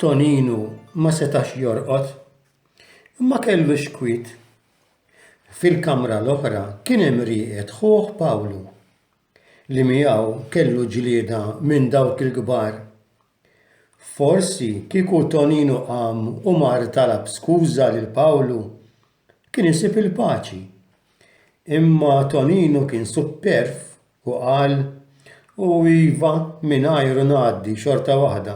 Toninu ma setax jorqod, imma kellu xkwit. Fil-kamra l-oħra kien hemm rieqed ħuh Pawlu, li miegħu kellu ġlieda minn dawk il-kbar. Forsi kieku Toninu qam u mar talab skuża lil Pawlu, kien isib il-paċi. Imma Toninu kien supperv u qal, U iva, mingħajru ngħaddi xorta waħda.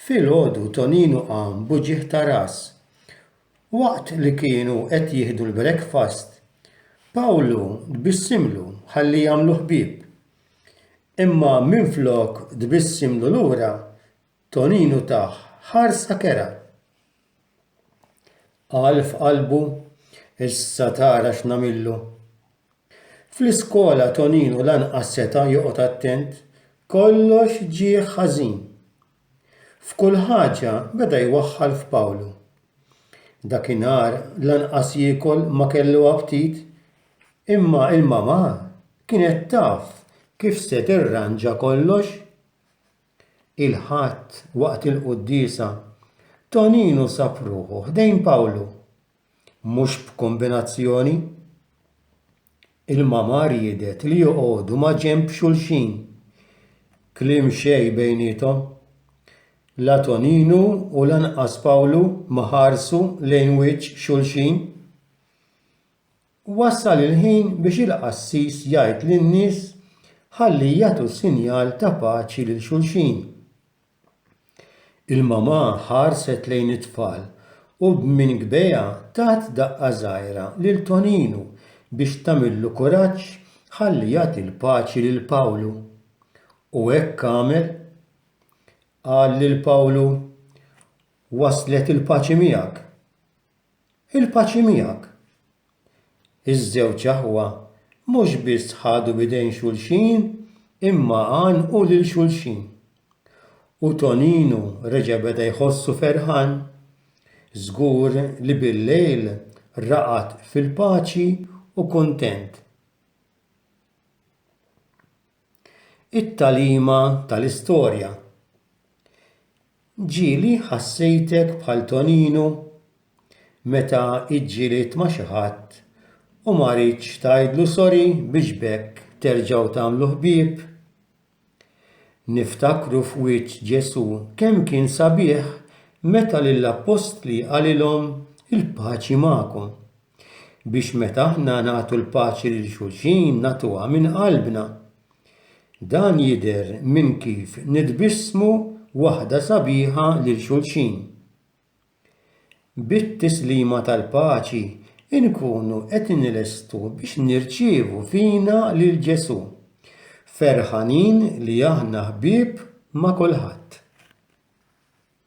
Filgħodu Toninu qam b'uġigħ ta' ras. Waqt li kienu qed jieħdu l-brekfast, Pawlu tbissimlu ħalli jagħmlu ħbieb. Imma minflok tbissimlu lura, Toninu tah ħarsa kerha. Qal f'qalbu, Issa tara x'nagħmillu. Fl-iskola Toninu lanqas seta' joqgħod attent, kollox ġieh ħażin. F'kull ħaġa beda jwaħħal f'Pawlu. Dakinhar lanqas jiekol ma kellu aptit, imma l-mamà kienet taf kif se tirranġa kollox. Il-Ħadd waqt il-quddiesa, Toninu sab ruħu ħdejn Pawlu. mhux b'kombinazzjoni, il-mama riedet li joqogħdu maġenb xulxin. Kliem xejn bejniethom. La Toninu u lanqas Pawlu ma ħarsu lejn wiċċ xulxin. Wasal il-ħin biex il-qassis jgħid lin-nies ħalli jagħtu sinjal ta' paċi lil xulxin. Il-mamà ħarset lejn it-tfal u b'minn kbejha tat daqqa żgħira lil Toninu biex tagħmillu kuraġġ ħalli jagħti l-paċi lil Pawlu. U hekk għamel. Qal lil Pawlu, Waslet il-paċi miegħek. Il-paċi miegħek. Iż-żewġ aħwa mhux biss ħadu b'idejn xulxin imma għannqu lil xulxin. U Toninu reġa' beda jħossu ferħan. Żgur li billejl raqad fil-paċi u kuntent. It-tagħlima tal-istorja. Ġieli ħassejtek bħal Toninu meta ġġielidt ma' xi ħadd u ma ridtx tgħidlu sorry biex b'hekk terġgħu tagħmlu ħbieb? Niftakru f'wiċċ Ġesù kemm kien sabiħ meta lill-appostli qalilhom il-paċi magħkom. biex meta aħna nagħtu l-paċi lil xulxin nagħtuha minn qalbna. Dan jidher minn kif nitbissmu waħda sabiħa lil xulxin. Bit-tislima tal-paċi inkunu qed inlestu biex nirċievu fina lil Ġesù, ferħanin li aħna ħbieb ma' kulħadd.